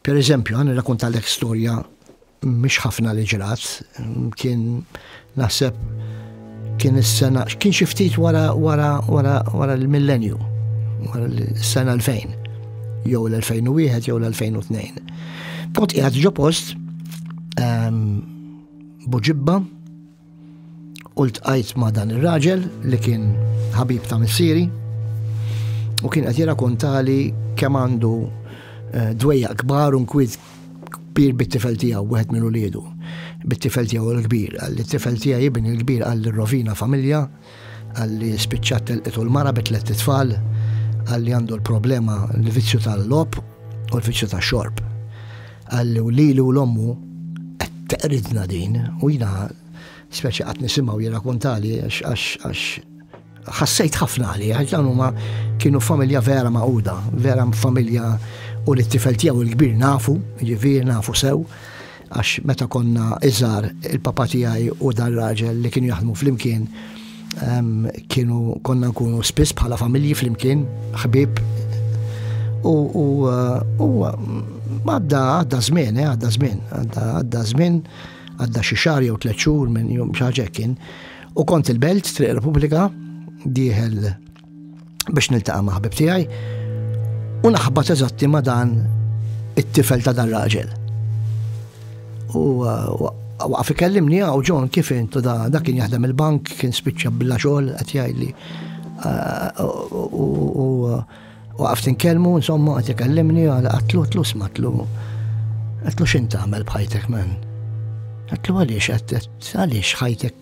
Per eżempju, ħa nirrakuntalek storja mhix ħafna li ġrat, kien naħseb kien is-sena, kien xi ftit wara wara wara wara l-millenju, wara l-sena 2000, jew l-2001 jew l-2002. Kont qiegħed ġo post ehm, buġibba U ltqajt ma' dan ir-raġel li kien ħabib ta' missieri u kien qed jirrakontali kemm għandu eh, dwejja kbar u nkwiet kbir bit-tifel tiegħu wieħed minn uliedu. Bit-tifel tiegħu l-kbir, għal tifel tiegħi ibn il-kbir għal rovina familja Għalli spiċċat telqitu l-mara bi tliet itfal, għalli għandu l-problema l-vizzju tal-lob u l-vizzju tax-xorb. Għalli u lili u l-ommu qed teqridna din u jina speċi qatt nisimgħu jirrakuntali għax ħassejt ħafna għali, għax dan huma kienu familja vera maquda, vera familja u li t-tifel tiegħu l-kbir nafu, ġifier nafu sew, Għax meta konna iżgħar il-papa tiegħi u dan raġel li kienu jaħdmu flimkien kienu konna nkunu spiss bħala familji flimkien, ħbib. U għadda għadda żmien, eh, għadda żmien, għadda żmien, għadda xi xahar jew tliet xhur minn jum xi kien. U kont il-Belt, Triq Repubblika, dieħel biex niltaqa' ma' ħbib tiegħi u naħbat eżatti ma' dan it-tifel ta' dan raġel. U uh, waqaf ikellimni għaw ah, ġon kif intu da, da kien jaħdem il-bank, kien spiċċa billa xogħol qed jgħidli. Uh, u uh, waqaf tinkellmu, insomma qed ikellimni għal qatlu tlu smatlu. Qatlu x'int tagħmel bħajtek men? Qatlu għaliex qed għaliex ħajtek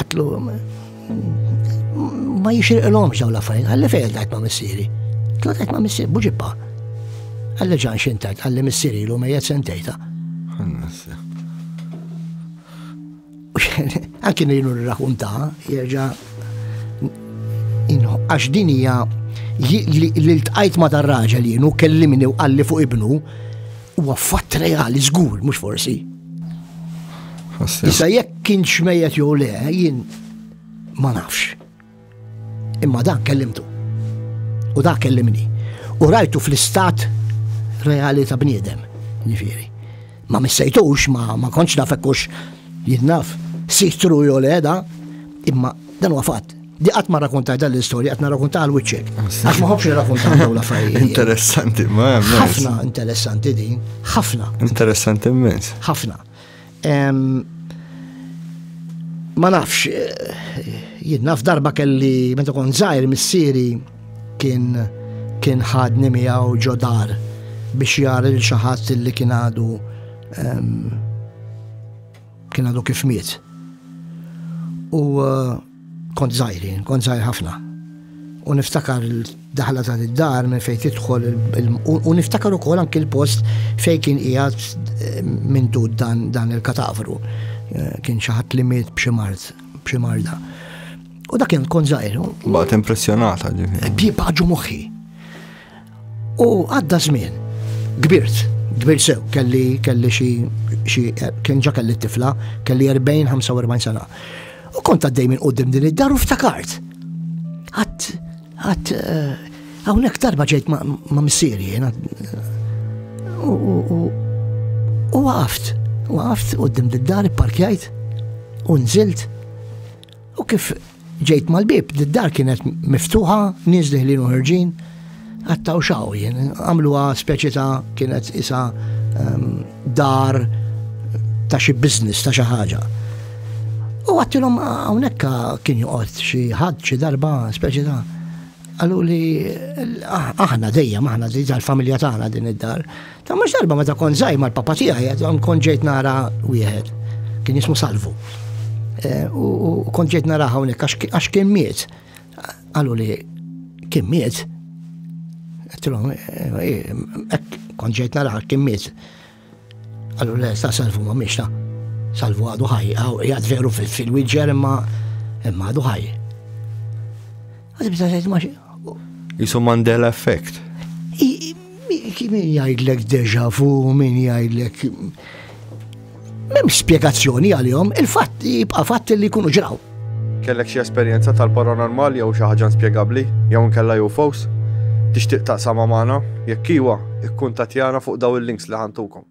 Għatlu, ma jixirqilhomx dawn l-affarijiet, għalli fejn tajt ma' missieri. Tlu tajt ma' missieri, buġibba. Għalli ġan xintajt, għalli missieri l-lum jgħed sentejta. Anki nejnu r-raħum ta' jirġa għax din hija li l-tqajt ma' dar-raġel jienu kellimni u għalli fuq ibnu Huwa fatt reali żgur, mhux forsi. Issa jekk kien xmejjet jew le, jien ma nafx. Imma dan kellimtu. U dak kellimni. U rajtu fl-istat reali ta' bniedem, ġifieri. Ma missejtux, ma, ma konċ nafekkux jinnaf sitru jew le da, imma dan huwa fatt. Di qatt ma rrakuntaj dan l-istorja, qed narrakuntaha għal wiċċek. Ah, Għax ma ħobbx nirrakuntaha dawn l-affarijiet. Interessanti, ma hemm. Ħafna interessanti din, ħafna. Interessanti immens. Ħafna. Ma nafx, eh, jien naf darba kelli meta kon żgħir missieri kien kien ħadni miegħu ġodar biex jar il xi ħadd li kien għadu kien għadu kif miet. U eh, Kont żgħir jien, kont żgħir ħafna. U niftakar daħla ta' id-dar minn fejn tidħol u niftakar ukoll anki l-post fejn kien qiegħed eh, minn dud dan il-katavru. Eh, kien xi ħadd li miet b'xi mart, b'xi marda. U dak kien kont żgħir. Baqgħet impressjonata ġifieri. Baqgħu moħħi. U għadda żmien, kbirt, kbir sew, kelli kelli xi kien ġa kelli tifla, kelli 40-45 sena. U kont għaddej minn qudiem din id-dar u ftakart. Għad, għad, eh, hawnhekk darba ġejt ma' missieri jiena. U waqaft, waqaft qudiem din id-dar, parkjajt, u nżilt U kif ġejt mal-bib, d-dar kienet miftuħa, nies diħlin u ħerġin, għattaw xaw jien, għamluha speċi ta' kienet isa ehm, dar ta' xi biznis ta' xi ħaġa. U għattilhom hawnhekk kien joqgħod xi ħadd xi darba speċi ta' għallu li ah, aħna dejjem aħna dejjem tal-familja tagħna din id-dar Ta' mhux darba meta kont żgħir mal-papa tiegħi, kont ġejt nara wieħed. Kien jismu Salvu. Eh, u kont ġejt nara hawnhekk għax kien miet. Qalu li kien miet. Tilhom, eh, eh, kont ġejt nara kien miet. Qalu le, ta' Salvu ma miex ta' Salvu għadu ħaj, għad veru fil-wieġer imma għadu ħaj. Jisu Mandela effect. Min jgħidlek deja fu, min jgħidlek. Mem spiegazzjoni għal-jom, il-fatt jibqa' fatt li jkunu ġraw. Kellek xi esperjenza tal-paranormali jew xi ħaġa inspjegabbli jew nkella UFOs? Tixtieq taqsama magħna? Jekk iwa, ikkuntatjana fuq daw il-links li ħantukom.